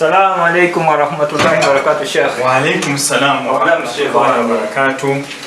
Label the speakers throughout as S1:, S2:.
S1: Assalamu alaikum warahmatullahi wabarakatuh Sheikh. Wa alaikum salam
S2: warahmatullahi wabarakatuh.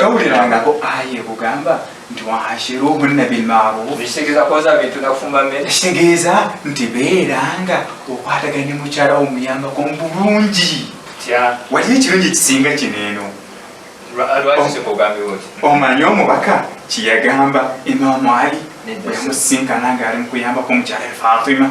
S1: tawulirangako aya
S2: ekugamba nti waashiruhunna bilmarufkitegeeza
S1: nti
S2: beeranga okwatagana ne mukyala wo muyambako mu bulungi waliyo
S1: ekirungi ekisinga
S2: kino eno omanyi omubaka kyeyagamba imamu ali oyamusinkana ngaali mukuyambako omukyala fatima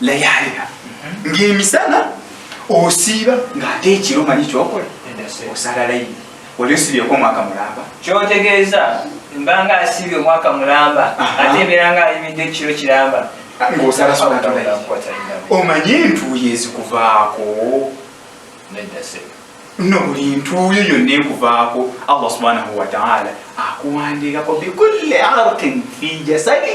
S2: layaliha ng'emisana osiiba ng'ate ekiro manyi kyokola osala layini oli osibyeko omwaka mulamba kyotegeeza
S1: mbanga asibye omwaka mulamba ate ebeera nga ayimidde ekiro kiramba ng'osala
S2: solatulayi omanye entuuyo ezikuvaako no buli ntuuyo yonna ekuvaako allah subhanahu wataala akuwandiikako bikulli arkin fi jasadi